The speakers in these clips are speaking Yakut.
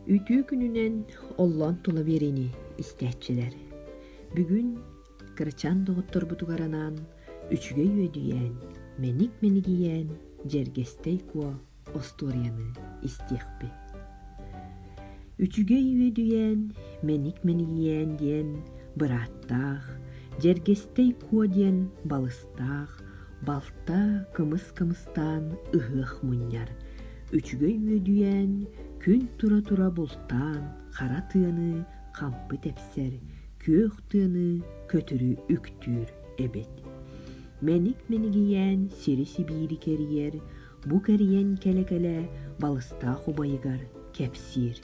Үтүө күнүнэн оллоон тула биэриини истээччилэр. Бүгүн кырачаан доҕотторбутугар анаан үчүгэй үөдүйээн, мэник-мэнигийээн дьэргэстэй куо остуоруйаны истиэхпит. Үчүгэй үөдүйээн, мэник-мэнигийээн диэн бырааттаах, дьэргэстэй куо диэн балыс таах балта кымыс кымыстаан ыһыах мунньар үчүгэй үөдүйээн күн тура-тура бултаан хара тыаны хампы тэпсэр күөх тыаны көтүрү үктүүр эбит мэник мэнигийээн сири сибиири кэрийэр бу кэрийэн кэлэ-кэлэ балыстаах убайыгар кэпсиир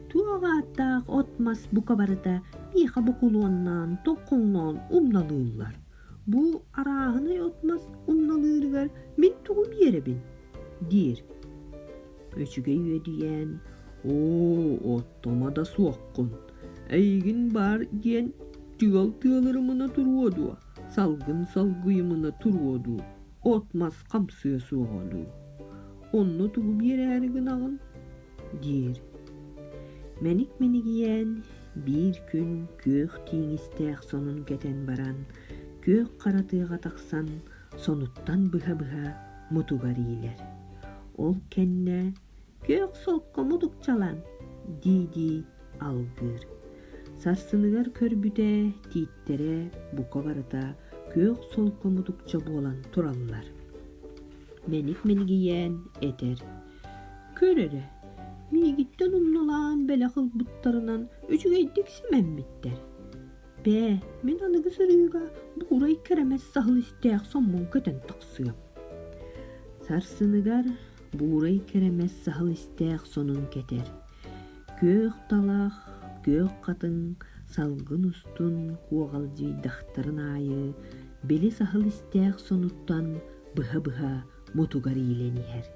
туох ааттаах от мас бука барыта миэхэ букулуоннаан тоқхоҥноон умналыыллар Бу арааһынай отмас умналыырыгар мин тугу биэрэбин? диир. Өчүгэй үөдүйээн «Оо, оттомо да суоххун, эйигин баар диэн тыал тыалырымына туруо дуо, салгын салгыйымына туруо дуу, отмас хамсыа суоҕа дуу? Онно тугу биэрээри гынаҕын?» диир. Мэник-мэнигийээн биир күн күөх тииҥистээх сонун кэтэн баран, күөх хара тыаҕа тахсан, сонуттан быһа-быһа мутугар иилэр. Ол кэннэ «Күөх солко мутукчалан» дии-дии алгыыр. Сарсыныгар көрбүтэ тииттэрэ бука барыта күөх солко мутукча буолан тураллар. Мэник-мэнигийээн этэр Көр эрэ, миигиттэн умнулаан бэлэх ылбыттарынан үчүгэйдик симэммиттэр. Бээ, мин аныгы сырыыга буурай кэрэмэс саһыл истээх соммун көтөн тахсыам. Сарсыныгар буурай кэрэмэс саһыл истээх сонун кэтэр. Күөх талах, күөх хатыҥ, салгын устун куоҕалдьыйдахтарын аайы, били саһыл истээх сонуттан быһа-быһа бутугар иилэн иһэр.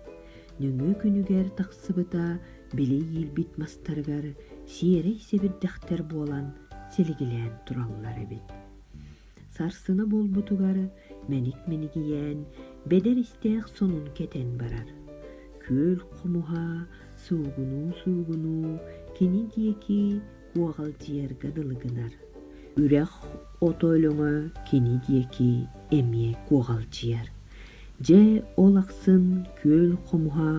Нөҥүө күнүгэр тахсыбыта били иилбит мастарыгар сиэрэй сэбирдэхтэр буолан силигилээн тураллар эбит. Сарсына буолбутугар мэник-минигийээн бэдэр истээх сонун кэтэн барар. Күөл хомуһа суугунуу-суугунуу кини диэки Уоҕалдьыйарга дылы гынар. Үрэх ото өлөҥө кини диэки эмиэ куоҕалдьыйар. Дьэ ол ахсын күөл хомуһа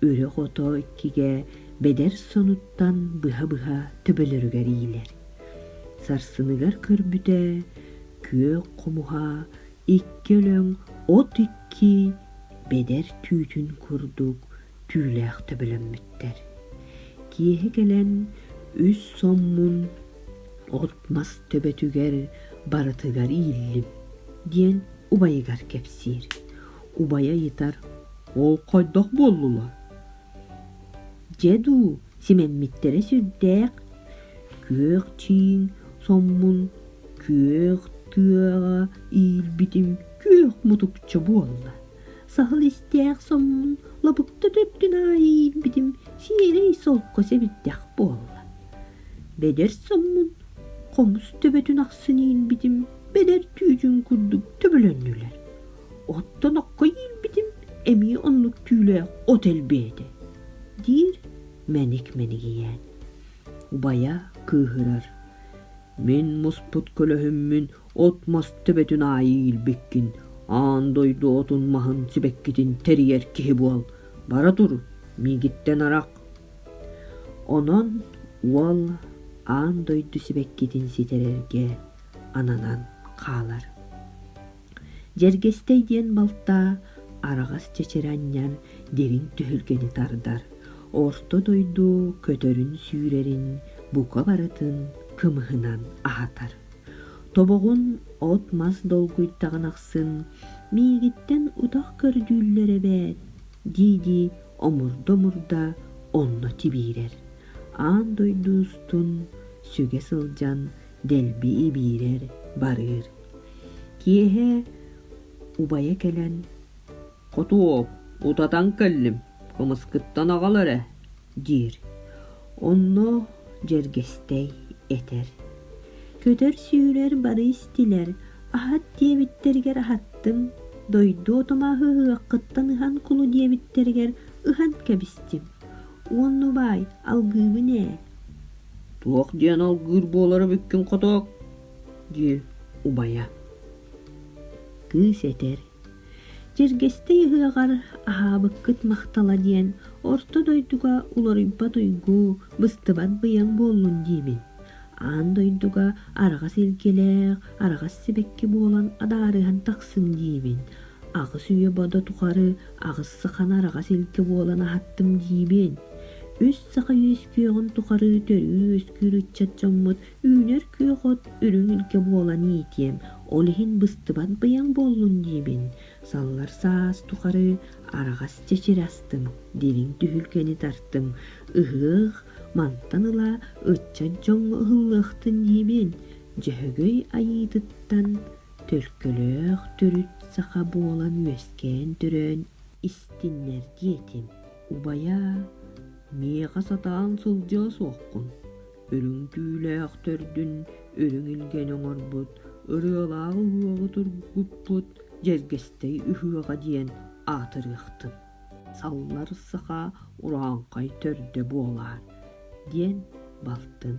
үрэх ото иккигэ бэдэр сонуттан быһа-быһа төбөлөрүгэр иилэр. Сарсыныгар көрбүтэ күө хомуһа икки өлөҥ от икки бэдэр түүтүн курдук түүлээх төбөлөммүттэр. Киэһэ кэлэн үс соммун от-мас төбөтүгэр барытыгар ииллим, диэн убайыгар кэпсиир. Убайа ыйытар, «Ол хайдах буоллулар?» «Дьэ дуу, симэммиттэрэ сүрдээх. Күөх чиин соммун күөх тыаҕа иилбитим күөх мутукча буолла». Саһыл истээх соҥмун лабыкта төрдүн аайы иирбитим сиэрэй солко сэбирдэх буолла. Бэдэр соҥмун хомус төбөтүн ахсын иирбитим бэдэр түүтүн курдук төбөлөннүлэр. Оттон окко иирбитим эмиэ оннук түүлээх от элбээтэ, диир мэник мэнигийээн. Убайа кыыһырар: «Мин муспут көлөһүммүн от-мас төбөтүн аайы иилбиккин, аан дойду отун-маһын сибэккитин тэрийэр киһи буол, бара тур, миигиттэн арах. Онон уол аан дойду сибэккитин ситэрэргэ ананан хаалар. Дьэргэстэй диэн балтаа араҕас чэчирэ анньан дириҥ түһүлгэни тардар, орто дойду көтөрүн сүүрэрин бука барытын кымыһынан аһатар. тобоҕун от-мас долгуйтаҕын ахсын миигиттэн утах көрдүүллэр эбээт дии-дии омурда-омурда онно тибиирэр аан дойду устун сүгэ сылдьан дэлби ибиирэр барыыр киэһэ убайа кэлэн хотуоп утатан кэллим кымыскыттан аҕал эрэ диир. Онно дьэргэстэй этэр. Көтөр-сүүрэр бары истилэр, аһат диэбиттэригэр аһаттым, дойду отомааһы ыһыаххыттан ыһан кулу диэбиттэригэр ыһан кэбистим. Уонну баай, алгыыбын ээ. Туох диэн алгыыр буолара бүккүн хотоок, дии убайа. Кыыс этэр Дьэргэстэй ыһыаҕар «Аһаабыккыт махтала» диэн орто дойдуга уларыйбат уйгу, быстыбат быйаҥ буоллун диибин. Аан дойдуга араҕас илгилээх, араҕас сибэкки буолан адаарыһан тахсым диибин. Аҕыс үйэ бодо тухары аҕыс сахан араҕас илгэ буолан аһаттым диибин. Үс саха үөскүөҕүн тухары төрүү-үөскүүр ыччат дьоммут Үүнэр күөх от үрүҥ илгэ буолан иитиэм, ол иһин быстыбат быйаҥ буоллун диибин, саллар саас тухары араҕас чэчири астым, дириҥ түһүлгэни тартым, ыһыах мантан ыла ыччан дьоҥҥо ыһыллыахтын диибин, Дьөһөгөй айыытыттан төлкөлөөх төрүт саха буолан үөскээн-төрөөн истиннэр диэтим, убайаа, миэхэ сатаан сылдьыа суоххун Үрүҥ-түүлээх төрдүн үрүҥ илгэни оҥорбут, ырыалаах уһуоҕу тургуппут Дьэргэстэй үһүөҕэ диэн аатырыахтын. Саллар саха урааҥхай төрдө буолаар диэн балтын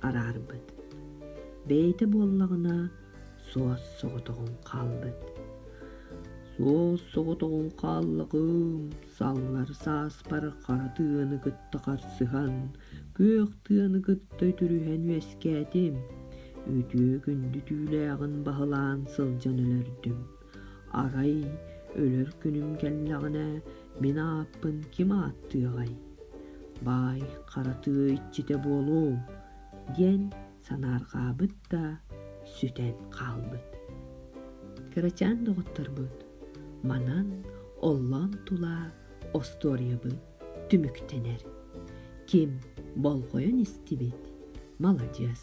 араарбыт. Бэйэтэ буоллаҕына суос соҕотоҕун хаалбыт. Суос соҕотоҕун хааллаҕым, саллар сааспар хара тыаны кытта харсыһан, күөх тыаны кытта үтүрүһэн үөскээтим. Үтүө күндү түүлээҕин баһылаан сылдьан өлөрдүм. Арай өлөр күнүм кэллэҕинэ мин ааппын ким ааттыаҕай? Баай хара тыа иччитэ буолуом, диэн санаарҕаабыт да сүтэн хаалбыт. Кырачаан доҕотторбут манан оллоон тула остуоруйабыт түмүктэнэр. Ким болҕойон истибит, маладьыас.